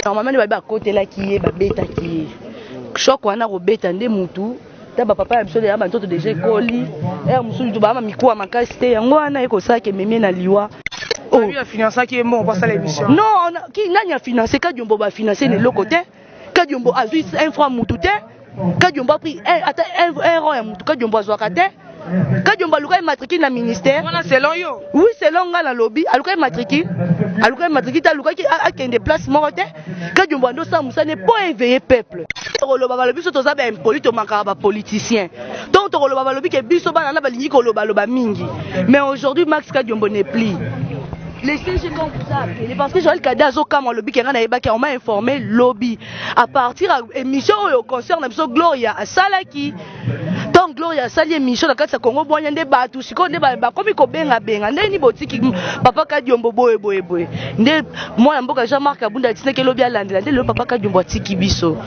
normalement nde babi bakotelaki ye babetaki ye shok wana kobeta nde mutu ta bapapa ya biso deya bantoto deja ekoli ere mosusu tobaa mamikuwa makasi te yango wana ye kosala ke memie na liwa oh. non nani afinance kadiombo bafinance na eloko te kadiombo azwi infra mutu te kadiombo apri eh, ata un rond ya motu kadiombo azwaka te kadiombo aluka ye matricule na ministère wana selon yo oui selon ngai nalobi aluka ye matricule aluka ye matricule te alukaki akende place moko te kadiombo ande osala mosala ne mpo eveille peuple tokoloba balobi biso toza baimpoli tomakaka bapoliticien donc tokoloba balobi ke biso bana na balingi kolobaloba mingi mais aujourd'hui max kadiombo ne pli les CG quand vous a appelé parce que Joël Kada azokamwa lobi kenga na yebaki on m'a informé lobi à partir ya émission oyo concert na biso gloria asalaki ntango gloria asali émission na kati ya congo bwanya nde bato sikoyo nde bakomi kobengabenga ndenge nini botiki papa kadiombo boye boye boye nde mwana mboka jean marc abunda atinaki elobi alandela nde lelo papa kadiombo atiki biso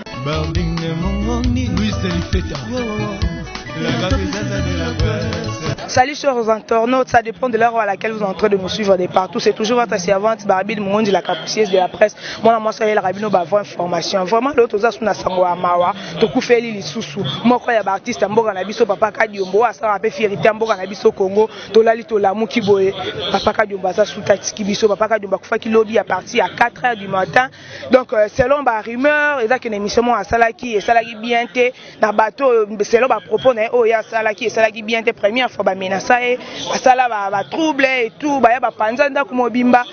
Salut chers internautes, ça dépend de l'heure à laquelle vous êtes en train de nous suivre de partout. C'est toujours votre servante Barbie de Mongondi, la capricieuse de la presse. mwana mwasi ayelaka bino ba vraie information vraiment lelo toza su na sango ya mawa tokufeli lisusu moko ya baartiste ya mboka na biso papa kadiombo oyo asalaka mpe fierite ya mboka na biso congo tolali tolamuki boye papa kadiombo aza suta atiki biso papa kadiombo akufaki lobi ya parti ya 4 heures du matin donc euh, selon ba rumeur eza kende émission moko asalaki esalaki bien te na bato oyo selon ba propos na ye oyo ye asalaki esalaki bien te première fois bamenasa ye basala batrouble ba et tout baya bapanza ndako mobimba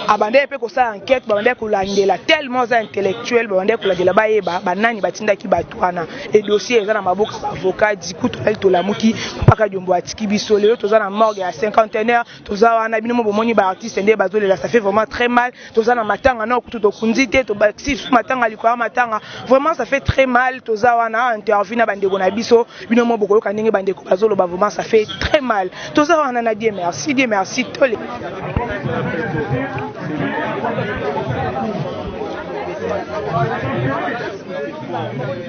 abandaki mpe kosala enquête babandaki kolandela tellement aza intellectuel babandaki kolandela bayeba banani batindaki bato wana e dossier eza na maboko ya baavocat diku tolali tolamuki mpaka diombo atiki biso lelo toza na morgue ya cinquantenaire toza wana bino mo bomoni ba artiste nde bazolela ça fait vraiment très mal toza na matanga nao kutu tokundi te tobakisi lisusu matanga likolo ya matanga vraiment ça fait très mal toza wana interview na bandeko na biso bino mo bokoyoka ndenge bandeko bazoloba vraiment ça fait très mal toza wana na die merci die merci tole Thank you.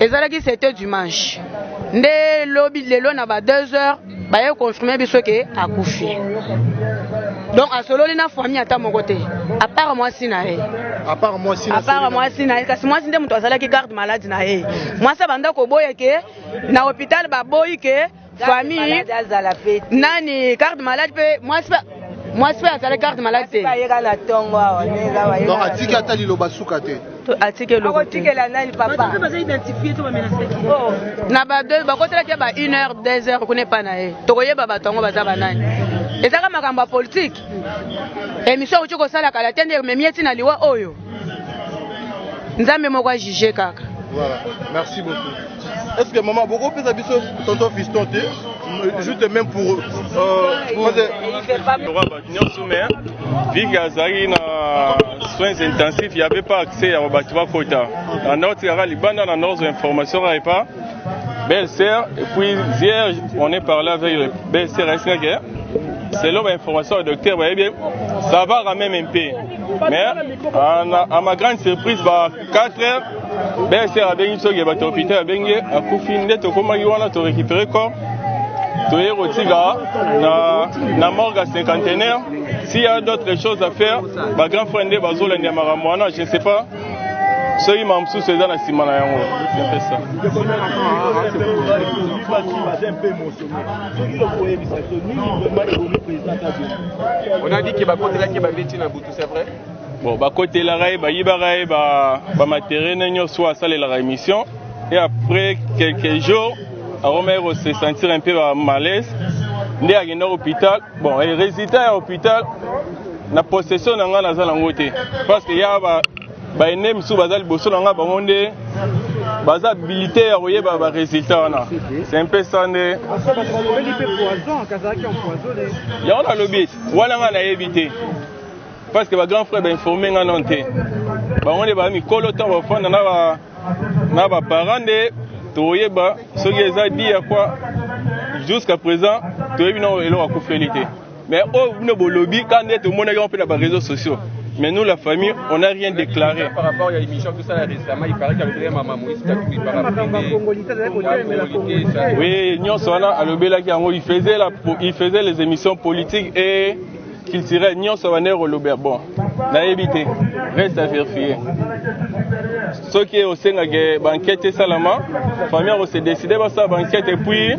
Ezalaki c'était dimanche. nde lobi lelo na ba 2 heures baye confirme biso ke akufi donc asololi na famille ata moko te apart mwasi na ye apart mwasi na apart mwasi na ye kasi mwasi nde moto azalaki garde malade na ye mwasi abanda koboya ke na hôpital baboyi ke famille nani garde malade mpe mwasi mwasi mpe azalaki garde malade te donc atiki ata liloba suka te akotikela nani papa oh. na bakotelaki ba 1 heure 2 heure kuna epai na ye tokoyeba bato yango baza banani ezaka makambo ya politike emission auti kosala kala te nde ememi ye ntina liwa oyo nzambe moko ajuge kaka Voilà, merci beaucoup. Est-ce que maman, beaucoup plus habitué tonton fiston, juste même pour. Euh, pour... nyonso me vike azalaki na soins intensifs ya bepa accès ya bato bakota na nord tikaka libanda na nord information kaka epa belle sœur et puis hier on est parlé avec le belle sœur esika ke selon bainformation ya docteur bayebi ça va quand même un peu mais à, à ma grande surprise ba 4 heures bsr abengi soki bato hôpital abengi ye akufi nde tokomaki wana to récupéré corps toye kotika na, na morgue ya cinquantenaire s'il y a d'autres choses à faire ba grand frère nde bazolanda ya makambo wana je ne sais pas soki makambo mosusu eza na nsima na yango epesa On a dit que bakotelaki babeti na butu, c'est vrai Bon, bakotelaka ye bayibaka ye bamaterie ba nyonso oyo asalelaka émission et après quelques jours akomaki kosesentir un peu ba malaise nde akenda hôpital bon e résultat ya hôpital na possession na ngai naza nango te parce que ya ba baene mosusu baza liboso na ngai bango nde baza habilité ya koyeba ba résultat wana c'est un peu ça nde yango nalobi wana ngai nayebi te parce que ba grand frère ba informer nga non te bango nde ba mikolo ntango bafanda na ba na ba parents nde toyeba soki eza di ya kwa jusqu'à présent toyebi na eloko akufeli te mais oyo bino bolobi ka nde tomonaki yango mpe na ba réseaux sociaux Mais nous, la famille, on n'a rien déclaré. Par rapport à l'émission, tout ça, récemment, il paraît qu'il y a maman Moïse Katumbi par rapport Oui, Nyon Sona, il faisait les émissions politiques et culturel nyonso bande koloba bon nayebi te reste à vérifier soki osengaki bankete esalama famille ako se décide basala bankete epuis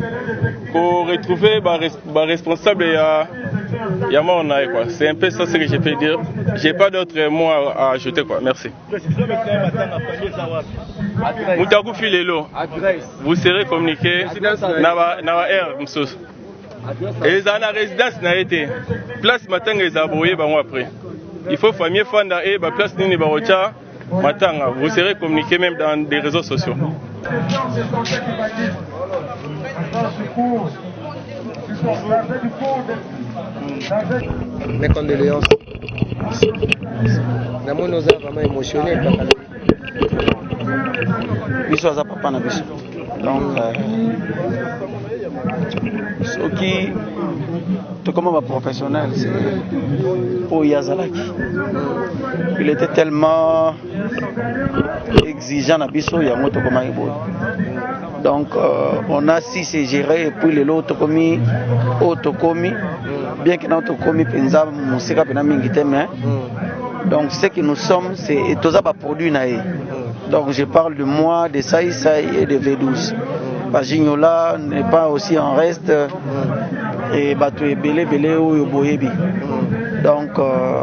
koretrouve baresponsable ba ya ya mort na ye quoi c'est un peu ça ce que je peux dire j'ai pas d'autre mot à ajouter quoi merci moto akufi lelo vous serez communiqué na ba heure mosusu ezala na residence na ye te place matanga ezala boye bango après il faut famille fanda et ba place nini bakotia matanga vous serez communiqué même dans des réseaux sociaux mes condoléances namoni oza vraiment émotionné biso aza papa na biso donc euh, soki tokoma baprofessionnel oyo ye azalaki il était tellement exigeant na biso yango tokomaki boye donc euh, on a si se gérer et puis lelo tokomi oyo tokomi bien que nao tokomi mpenza mosika mpena mingi te mais donc ce que nous sommes c'est toza baproduit na ye donc je parle de moi de saisai et de v12 bajignola n'est pas aussi en reste et bato ebele ebele oyo boyebi donc euh,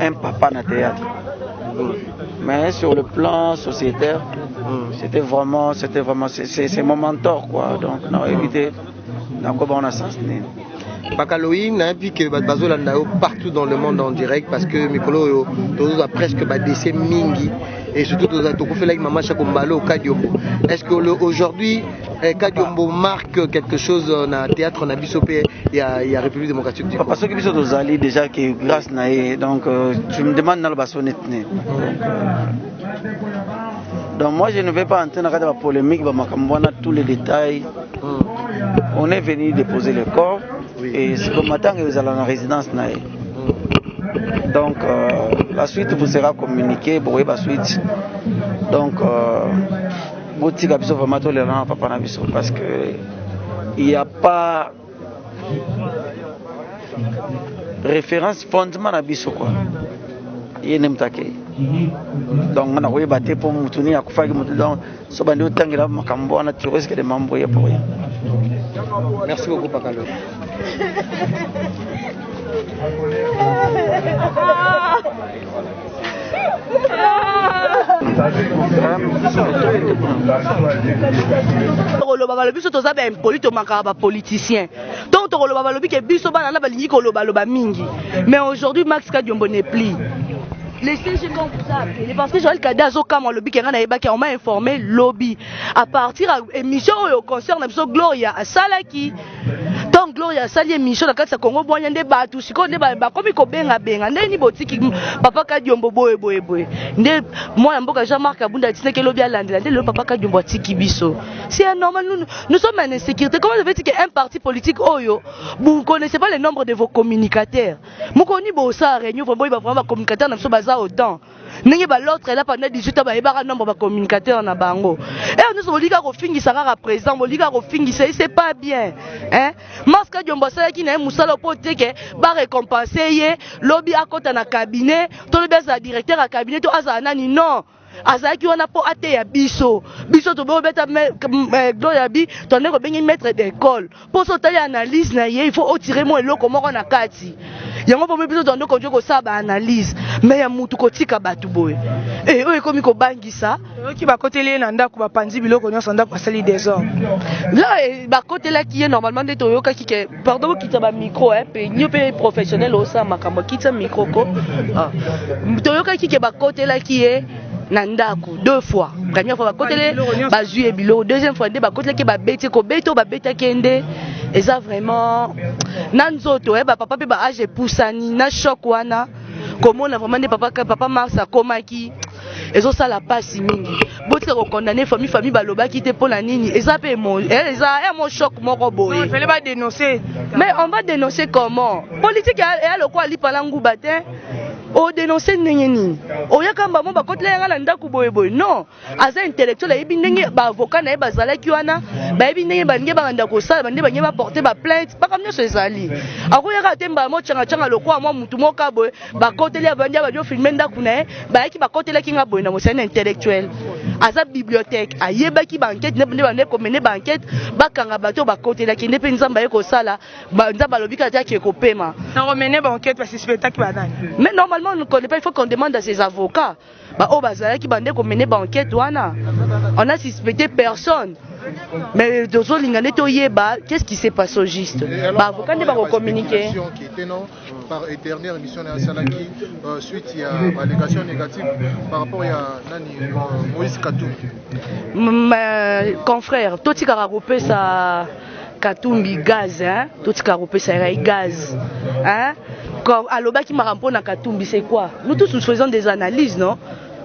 un papa na théâtre mais sur le plan sociétaire mm. c'était vraiment c'était vraiment c'est mon mentor quoi donc na évité nakoba on a sens nini bakaloyi nayebi ke bato bazolanda yo partout dans le monde en direct parce que mikolo oyo tozozwa presque badese mingi et surtout tokufelaki mama shako mbalo okadiombo est ce que aujourd'hui Eh, kadiombo marque quelque chose euh, na théâtre na biso mpe ya, ya république démocratique du papa soki biso tozali déjà que grâce na ye donc euh, tu me demande naloba so neti ne donc moi je ne vais pas entrer na kati ya bapolémique bamakambo wana tous les détails mm. on est venu déposer le corps oui. et siko matanga ezala na résidence na ye mm. donc euh, la suite vous sera communiqué bokoyeba suite donc euh, botika biso vraiment tolela na papa na biso parce que il y a pas référence fondement na biso quoi ye nde moto akei donc nga nakoyeba te mpo motu nini akufaki motu donc so bandi otangela makambo wana tu risque de m'embrouiller pour rien merci beaucoup pakalo tokoloba balobi biso toza baimpoli tomakaka bapoliticien ntongo tokoloba balobi ke biso bana na balingi kolobaloba mingi mais aujourd'hui max kadiombo ne pli le CG quand vous a appelé parce que Joël Kada azokamwa alobi kenga nayebaki on m'a informé lobi à partir ya émission oyo concert na biso Gloria asalaki Tant Gloria asali emission na kati ya Congo bwanya nde batu sikoyo nde bakomi kobenga benga nde ni botiki papa Kadiombo boye boye boye nde mwana mboka Jean Marc Abunda atinaki elobi alandela nde lelo papa Kadiombo atiki biso si un normal nous, nous sommes en insécurité comment vous dire qu'un parti politique oyo vous ne connaissez pas le nombre de vos communicateurs mokoni bosa réunion vraiment ba vraiment ba communicateurs na biso baza autant ndenge ba l'autre là pendant 18 ans bayebaka nombre ba communicateur na bango eyo nyonso bolika kofingisa kaka président bolika kofingisa ye c'est pas bien hein maska diombo asalaki na ye mosala mpo te ke ba récompense ye lobi akɔta na cabinet to lobi azala directeur ya cabinet to azala nani non azalaki wana mpo ateya biso biso tobobeta eh, gloria bi tondeko benge maître d'école mpo so otali analyse na ye il faut otire mwa eloko moko na kati yango bomi biso toza nde konje kosala baanalyse me ya mutu kotika bato boye e oyo ekomi kobangisa oyoki bakoteli ye na ndako bapanzi biloko nyonso ndako basali desordre la eh, bakotelaki ye normalement nde toyokaki ke pardon bokitisa bamicro eh, pe nio mpe professionnel osala makambo akitisa micro ko ah. toyokaki ke bakotelaki ye na ndako deux fois première fois bakotele bazwi ye biloko deuxième fois nde bakotelaki babeti kobeta oyo babetaki ye nde eza vraiment na nzoto eh, bapapa mpe baage epusani na choc wana komona vraiment nde papa, papa mars akomaki ezosala mpasi mingi botika kokondane famille famille balobaki te mpo na nini eza mpe eh, eza ya eh, mo choc moko boye mais on va dénoncer comment politique eya lokola lipa na nguba te o denoncer ndenge nini oyaka mbamo bakotela yanga na ndako boye boye non aza intellectuel ayebi ndenge baavocat na ye bazalaki wana bayebi ndenge balingi bakanda kosala bande balingi baporte baplainte mpaka nyonso ezali akoyaka te mbala mocangacanga lokola mwa motu moka boye bakoteli avandi abandi ofilme ndako na ye bayaki bakotelaki nga boye na mosali na intellectuel aza bibliothèque ayebaki baankete nde bande komene baankete bakanga bato bakotelaki nde mpe nzambe aye kosala Ba, nzambe alobi kaka te ake kopema na komene bankete basuspectaki banani mais normalement ne connaît pas il faut qu'on demande à ses avocats baoyo bazalaki bande komene bankete wana on a suspecté personne mais tozolinga nde toyeba qu'est ce qui s'est passé au juste baavocat nde bakocommunike par éternel émission na asalaki euh, suite ya ballégation négative par rapport ya nani euh, moïse katumbi confrère totikaka kopesa Katumbi gaz hein totika kopesa ngai gaz hein quand alobaki makambo mpo na Katumbi c'est quoi nous tous nous faisons des analyses non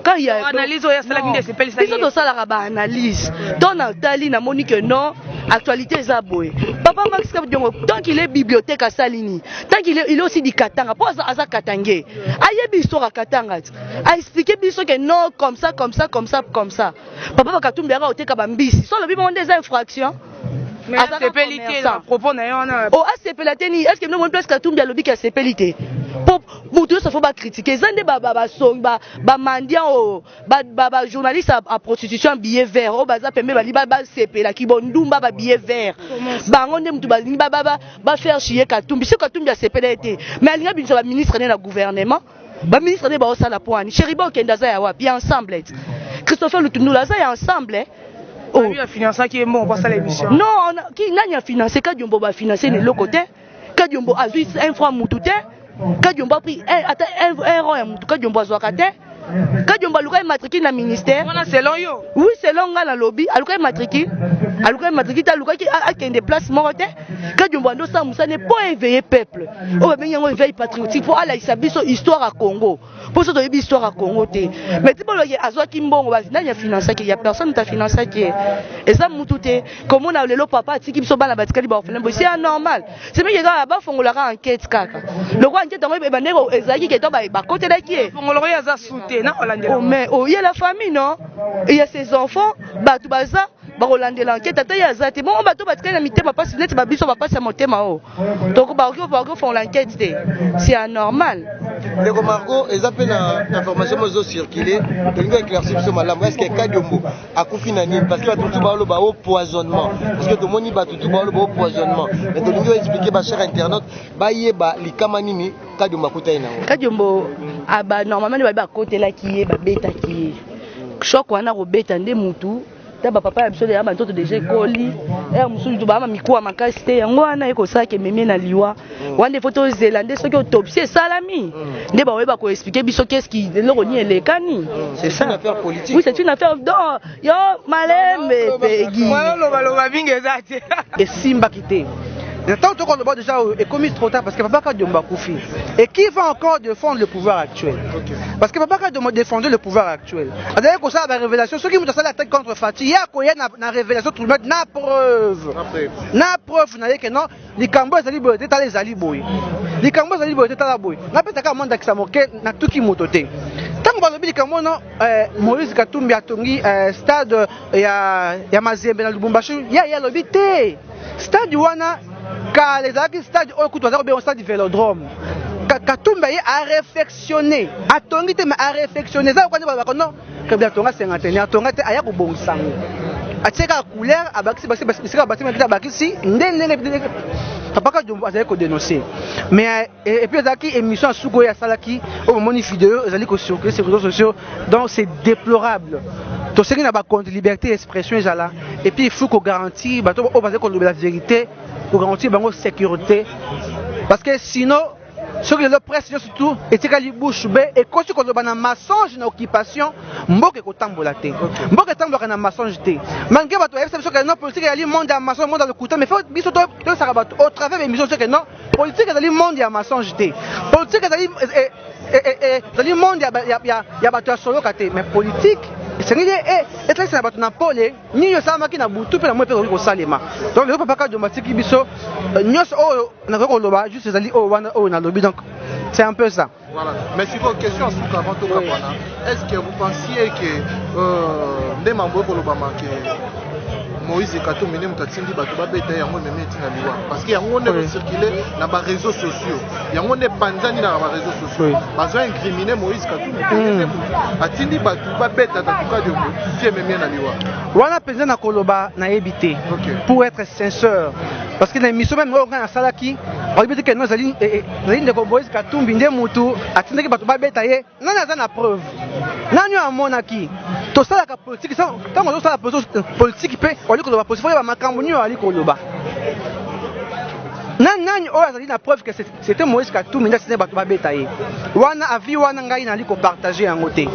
quand il y a analyse oyo asalaki nde esepelisa biso tosalaka ba analyse to na tali na moni que non actualité eza boye papa Max Kabdiongo tant qu'il est bibliothèque asali nini tant qu'il est il est aussi du Katanga po aza aza Katangais ayebi histoire ya Katanga a expliquer biso que non comme ça comme ça comme ça comme ça Papa ba Katumbi aka oteka ba mbisi. Solo bi monde eza infraction. Mais asepeli te na propos na ye wana. Oh asepela te ni est-ce que nomoni place Katumbi alobi ke asepeli te. Po mutu yonso fo ba critiquer. Eza nde ba ba ba song ba ba mendiant oyo oh, ba ba, ba journaliste à, à prostitution billet vert oyo oh, baza pembe bali ba ba sepela ki bondumba ba billet vert. Bango nde mutu balingi ba ba ba, ba faire chier Katumbi. Si Katumbi asepela ye te. Mais alinga binisa ba ministre ne na gouvernement. ba ministre nde baosala mpo ani cheriba okende aza ya wapi ya ensemble ti christopher lutundula aza ya ensemble oh. Lui afinançaki ye mbongo mpo asala émission non ki nani afinance kadiombo bafinance na eloko te kadiombo azwi un franc mutu te kadiombo apri ata un rond ya mutu kadiombo azwaka te kadiombo alukaki matricule na ministère wana selon yo oui selon ngai nalobi alukaki matricule alukaki matricule te alukaki akende place moko te Kadiombo ando sa musane po éveiller peuple. Oyo babengi yango éveil patriotique po alakisa biso histoire ya Congo. Po so toyebi histoire ya Congo te. Mais ti boloki azwaki mbongo basi nani ya financaki ya personne ta financaki. Eza mutu te. Komona lelo papa atiki biso bana batikali ba orphelin bosi ya normal. C'est bien kaka ba fongola ka enquête kaka. Loko enquête yango ebandaki ko ezalaki ke to ba bakotelaki ye. Fongoloko ya za sute na olandela. Oh mais oh il y a la famille non? Il y a ses enfants, batu baza bakolandela ankete ata ye aza te bongo bato batikali na mitema mpasi neti babiso bapasi ya motema oyo tokobakoki bakofongola ankete te c'est anormal ndeko marco eza mpe na information mozo circule tolingi éclairci biso malamu est ce que kadiombo akufi na nini parce que bato mosusu baoloba o poisonnement parce que tomoni bato tu baoloba o poisonnement mais tolingi oexplike bachère internaute bayeba likama nini kadiombo akutani nango kadiombo ah, normalement nde babi bakotelaki ye babetaki ye choc wana kobeta nde mutu ta bapapa ya biso deya bantoto deja ekoli ere mosusu tobaa mikuwa makasi te yango wana ye kosalaka ememie na liwa mm. wana nde fo tozela nde soki autopsie esalami mm. nde bakoyeba koexplike biso keski eloko nini elekani mm. oui c'est une affaire do yo malembe pegi esimbaki te na ntango toko loba deja ekomi trop tard parce que papa kadiombo akufi et qui va encore défendre le pouvoir actuel parce que papa kadiombo défendait le pouvoir actuel azalaki kosala ba révélation soki moto asali attaque contre fati ye akoya na, na révélation trumete na preuve na preuve na ye ke non likambo ezali boye te tala ezali boye likambo ezali boye te tala boye napesa kaka mwa ndakisa moke natuki moto te ntango balobi likambo no eh, moïse katumbi atongi eh, stade ya, ya Mazembe na Lubumbashi ya ya lobi te stade wana kala ezalaki stade oyo kutu aza kobenga stade Velodrome Katumba ye a réfectionné atongi te mais a réfectionné eza lokola nde balobaka non kabila atonga cinquantenaire atonga te aya kobongisa yango atie kaka couleur abakisi bisika batimaki abakisi nde ndenge papa kadumbu azali kodenonse mais Et, et puis ezalaki émission ya suki oyo asalaki oyo bomoni video ezali kocircule sur réseaux sociaux donc c'est déplorable tosengi na bakonzi liberté expression ezala et puis il faut kogarantir bato oyo bazali kolobela vérité kogarantir bango sécurité parce que sinon soki lelo presse nyonso tu etikali bouche be ekosi koloba na mensonge na occupation mboka ekotambola te mboka etambolaka na mensonge te malgré bato bayebisa biso ke non politique ezali monde ya mensonge monde ya lokuta mais faut biso toyebisaka bato au travers ya émission soki non Politique ezali monde ya mensonge te. Politique ezali eh, eh, eh, ezali monde ya ya ya, ya bato ya soloka te, mais politique esengeli etalisa na bato na pole nini osalamaki na butu mpe na moi mpe ekoki kosalema donc lelo papa kadiomba atiki biso nyonso oyo nakoki koloba juste ezali oyo wana oyo nalobi donc c'est un peu ça Voilà. Mais si vos questions à Souka avant tout Kabana, est-ce que vous pensiez que euh, Ndema Mboye Kolobama que Moïse Katumbi nde moto atindi bato babeta yango ememi etina liwa parce que yango nde kocircule na bareseau sociaux yango nde epanzani na bareseau sociaux bazo incrimine Moïse Katumbi hmm. atindi bato babeta tatuka diongo ti ememi na liwa wana mpenza na koloba nayebi te pour être sincère parce que na émission meme oyo ngai nasalaki oyebi te keno ezali eh, eh, ezali ndeko Moïse Katumbi nde mutu atindaki bato babeta ye. Nani aza na preuve? Nani oyo amonaki? Tosalaka politiki ntango ozosala politiki mpe wali koloba politiki oyeba makambo nini wali koloba. Nani nani oyo azali na preuve que c'était Moïse Katumbi nde asindaki bato babeta ye? Wana avi wana ngai nali kopartage yango te.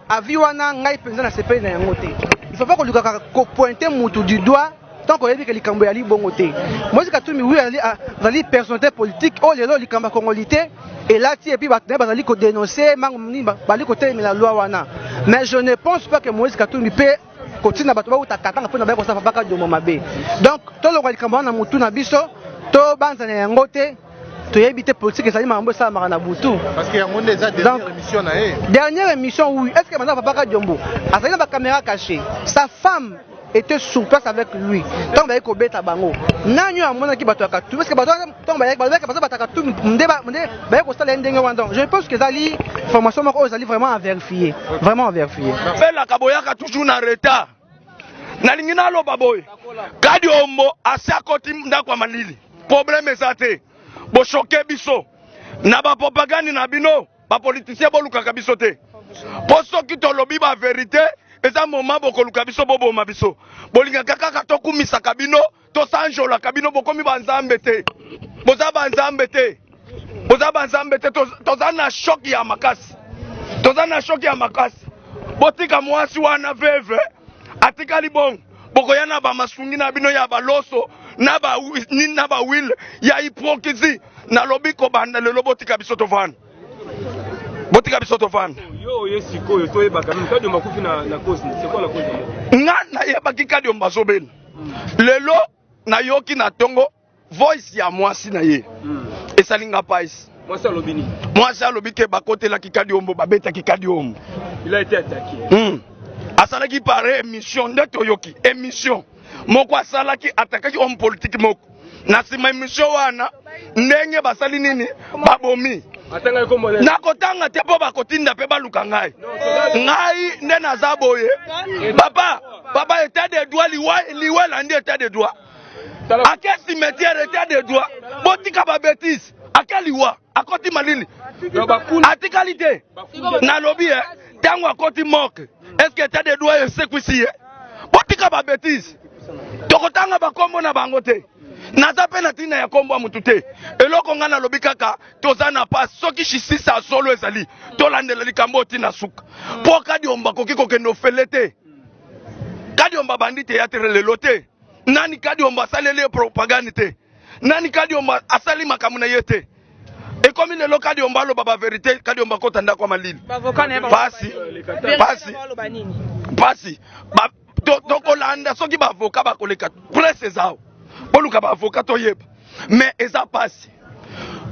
Avi wana ngai mpenza nasepeli na yango te. Il faut pas kolukaka kopointe mutu du doigt Tant que oyebi que likambo ya libongo te. Moïse Katumbi oui azali azali personnalité politique oyo oh, lelo likambo ya congolité elati et puis bato na ye bazali ko dénoncer mango nini bazali kotelemela loi wana. Mais je ne pense pas que Moïse Katumbi mpe kotinda bato bauta katanga mpo na baye kosala babaka domo mabe. Donc tolonga likambo wana na motu na biso tobanzana yango te toyebi te politique ezali makambo esalamaka na butu dernière émission oui est ce que manza babaka diombo azali na bacaméra caché sa femme était sur place avec lui ntango bayaki kobeta bango nani oyo amonaki bato ya katumbi parce que bato ntango bayaki balobaki baza bato ya katumbi nde bayaki kosala ye ndenge wana donc je pense que ezali formation moko oyo ezali vraiment à vérifier vraiment à vérifier belaka boyaka toujours na retard nalingi naloba boye kadi ombo asi akoti ndako ya malili problème eza te boshoke biso na bapropagande na bino Ba politiciens bolukaka biso te. Po soki tolobi ba verite, eza moment bokoluka biso boboma biso. Bolingaka kaka tokumisaka bino, tosanjolaka bino bokomi ba nzambe te. Boza ba nzambe te. Boza ba nzambe te. Toza na choc ya makasi. Toza na choc ya makasi. Botika mwasi wana veve atikali bongo. bokoya na ba masungi na bino ya baloso na ba nini na ba wile ya hypocrisie nalobi kobanda lelo botika biso tovanda botika biso tovanda nga nayebaki kadiomba azobela lelo nayoki na tongo voice ya mwasi na ye hmm. esali nga pais mwasi alobi nini mwasi alobi ke bakotelaki kadiombo babetaki kadiombo il a été attaqué hmm. asalaki pare émission nde toyoki émission moko asalaki atakaki homme politique moko na nsima émission wana ndenge basali nini babomi nakotanga te mpo bakotinda mpe baluka ngai ngai nde naza boye papa papa etat de droit liwa liwa elandi etat de droit ake cimetière etat de droit botika ba betise ake liwa akoti malili atikali te nalobi ye ntango akoti morke eske etat de droit esekwisi ye botika ba betise tokotanga bakombo na bango te naza mpe na ntina ya nkombo ya motu te eloko ngai nalobi kaka toza na pasi soki justice ya solo ezali tolandela likambo oyo ntina suka mpo kadiomba akoki kokende ofele te kadiomba bandi teatre lelo te Nani Kadiombo asaleli ye propagande te? Nani Kadiombo asali makambo na ye te? ekomi lelo kadiombo aloba baverité kadiombo akota ndako ya malili pasi pasi pasi tokolanda soki baavoka bakoleka presse ezao boluka baavoka toyeba mais eza pasi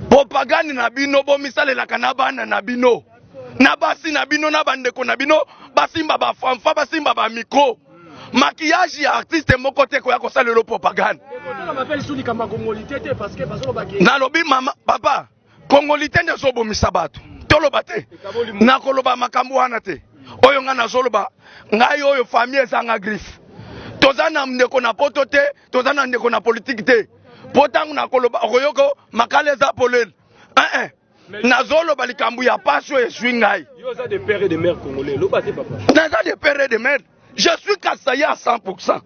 propagande na bino bomisalelaka na bana na bino na basi na bino na bandeko na bino basimba bafanfa basimba bamikro maquillage ya artiste moko te koya kosalela propagande nalobi mama papa kongolite nde ezobomisa bato toloba te nakoloba makambo wana te oyo ngai nazoloba ngai oyo famille ezanga griffe toza na ndeko na poto te toza na ndeko na politike te mpo ntango nakoloba okoyoko makala eza polele eh, eh. nazoloba likambo ya pasi oyo eswi ngai naza de pere de mare je suis kasaye à 100 pourcent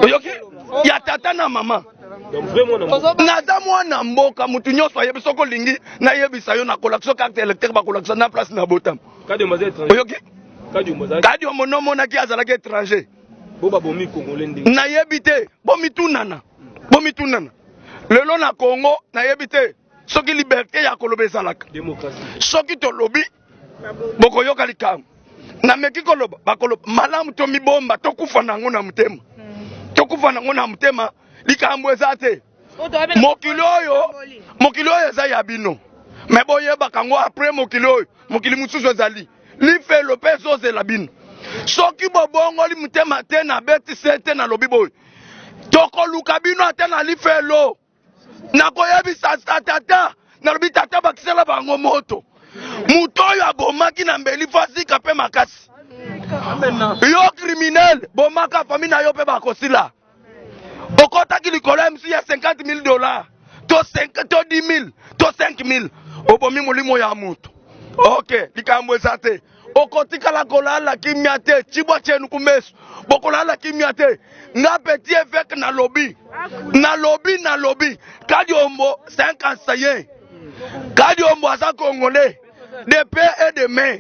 oyoki ya tata na mama naza mwana mboka motu nyonso ayebi soki olingi nayebisa yo nakolakisa yo carte électrique bakolakisa na place na botama oyoki kadio mono omonaki azalaki étranger nayebi te bomitunana bomitunana Lelo na Congo nayebi te soki liberte ya koloba ezalaka. Soki tolobi bokoyoka likambo. Nameki koloba bakoloba malamu tomibomba tokufa na yango na motema. Hmm. Tokufa na yango na motema likambo eza te. Mokili oyo mokili oyo eza ya bino. Me boyebaka yango apres mokili oyo mokili mosusu ezali. lifelo mpe ezozela bino soki bobongoli motema te na beti sete nalobi boye tokoluka bino ata na lifelo nakoyebisa tata nalobi tata bakisela bango moto moto oyo abomaki na mbeli fazika mpe makasi yo kriminele bomaka fami na yo mpe bakosila okotaki likolo ya msi ya 50 mille dollars to 5 to 10 mille to 5 mille obomi molimo ya moto ok likambo eza te okotikala kolala kimia te cibwa cenu kumesu bokolala kimia te nga petit eveke nalobi nalobi nalobi kadiombo 51 kadiombo aza congolais de pe et de main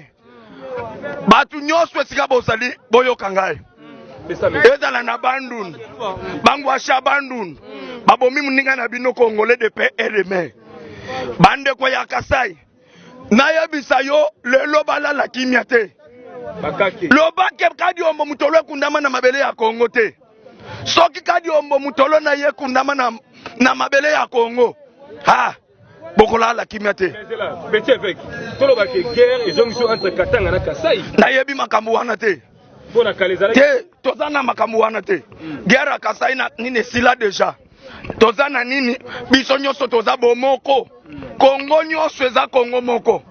bato nyonso esika bozali boyoka ngai ezala na bandun bangwasha bandun babomi moninga na bino kongole de pe eleme bandeko ya kasai nayebisa yo lelo balala kimia te lobake kadiombo motolo ekundama na mabele ya kongo te soki kadiombo motolo na ye ekundama na, na mabele ya kongo ha bokolala kimia te nayebi makambo wana te te toza na makambo wana te hmm. guerre ya kasai na nini esila deja toza na nini biso nyonso toza bomoko kongo nyonso eza kongo moko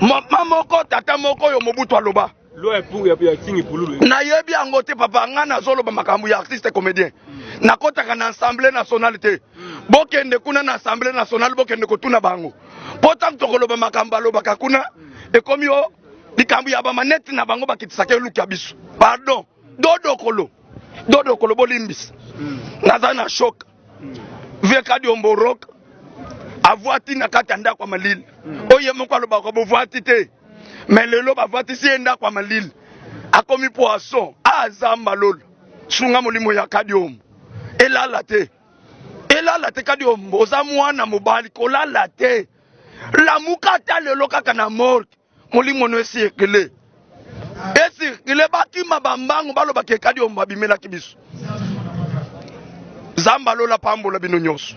mama moko tata moko oyo mobutu aloba nayebi yango te papa ngai nazoloba makambo ya artiste comédien nakotaka na assemblée nationale te bokende kuna na assemblée nationale bokende kotuna bango mpo ntango tokoloba makambo balobaka kuna ekomi o likambo ya bamanete na bango bakitisaka eluki ya biso pardon dodokolo dodokolo bolimbisa nazali na shoka vie kadiombo rock avwati na kati ya ndako ya malili mm. oyo ye moko alobaka bovwati te me lelo bavwatisi ye ndako ya malili akomi poisson azamba ah, lola sunga molimo ya kadiombo elala te elala te kadiombo oza mwana mobali kolala te lamuka ata lelo kaka na morke molimo no esirkile esirkile bakima bambangu balobaka ekadi oyo babimelaki biso nzambe alola pambola bino nyonso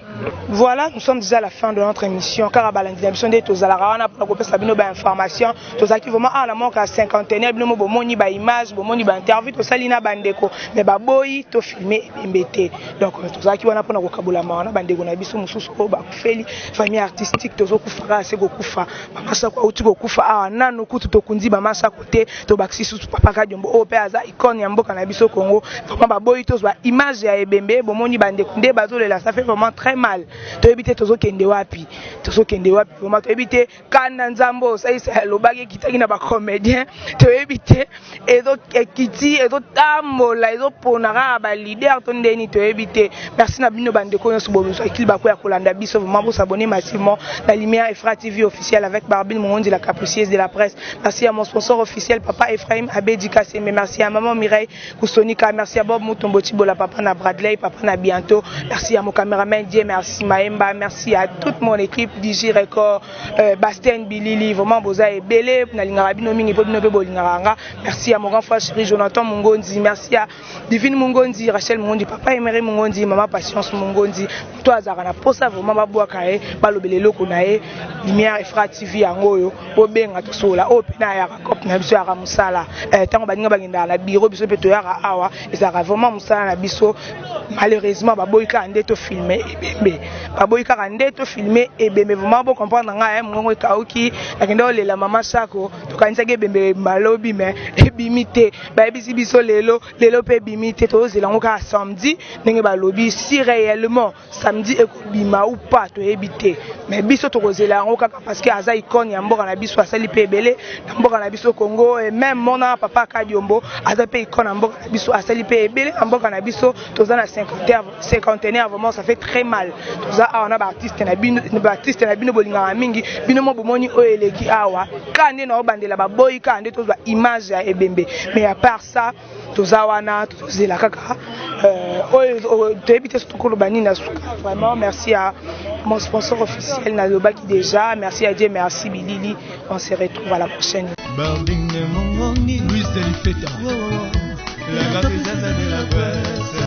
voilà nous sommes déjà à la fin de notre émission kaka balandi na biso nde tozalaka wana mpona kopesa bino bainformation tozalaki vraiment awa na moka ya cinquantenaire bino mo bomoni baimage bomoni bainterview tosali na bandeko mais baboyi tofilme ebembe te donc euh, tozalaki wana mpona kokabola mawa na bandeko na biso mosusu oyo bakufeli famille artistique tozokufaka se kokufa Mama Sako auti kokufa awa nanu kutu tokundi Mama Sako te tobakisi susu Papa Kadiombo oyo mpe aza icone ya mboka na biso Congo vraiment baboyi tozwa image ya ebembe bomoni bandeko nde bazolela ça fait vraiment très mal toyebi te tozokende wapi tozokende wapi vraiment toyebi te kanda nzambe oyo osalisa alobaki ekitaki na bacomédien toyebi te ezo ekiti ezo tambola ezo pona kaka ba leader to ndeni toyebi te merci na bino bandeko nyonso bozwa kili bako ya kolanda biso vraiment bo s'abonner massivement na lumière Efra TV officiel avec Barbine Mongondi la capricieuse de la presse merci à mon sponsor officiel papa Ephraim Abedi Kasembe merci à maman Mireille Kusonika merci à Bob Mutombo Chibola papa na Bradley papa na bientôt merci à mon cameraman Dieu merci Maemba merci à toute mon équipe DJ Record Euh, Bastien Bilili vraiment boza ebele nalingaka bino mingi mpo bino mpe bolingaka nga merci ya mon grand frère chéri Jonathan Mungonzi merci ya Divine Mungonzi Rachel Mungonzi papa Emery Mungonzi mama Patience Mungonzi moto azalaka na posa vraiment babwaka ye balobela eloko na ye lumière efra tv yango oyo bobenga tosolola oyo mpe nayaka cop na biso yaka mosala ntango euh, baninga bagendaka na biro biso mpe toyaka awa Ezalaka vraiment musala na biso malheureusement baboyi kaka nde to filme ebembe baboyi kaka nde to filme ebembe vraiment bo comprendre nga eh mongongo ekauki nakende olela mama sako tokanisaki ebembe malobi mais ebimi te bayebisi biso lelo lelo pe ebimi te tozela ngo kaka samedi ndenge balobi si réellement Samedi ekobima ou pas toyebi te mais biso tokozela yango kaka parce que aza icone ya mboka na biso asali mpe ebele na mboka na biso Congo et même mona papa Kadiombo aza mpe icone ya mboka na biso asali mpe ebele na mboka na biso toza na cinquantenaire vraiment ça fait très mal toza awa na baartiste na bino baartiste na bino bolingaka mingi bino mo bomoni oyo eleki awa ka nde na obandela baboyi ka nde tozwa image ya ebembe mais à part ça toza wana tozozela kaka euh, oyo euh, toyebi te soki tokoloba nini na suka vraiment merci ya mon sponsor officiel nalobaki déjà merci ya dieu merci bilili on se retrouve à la prochaine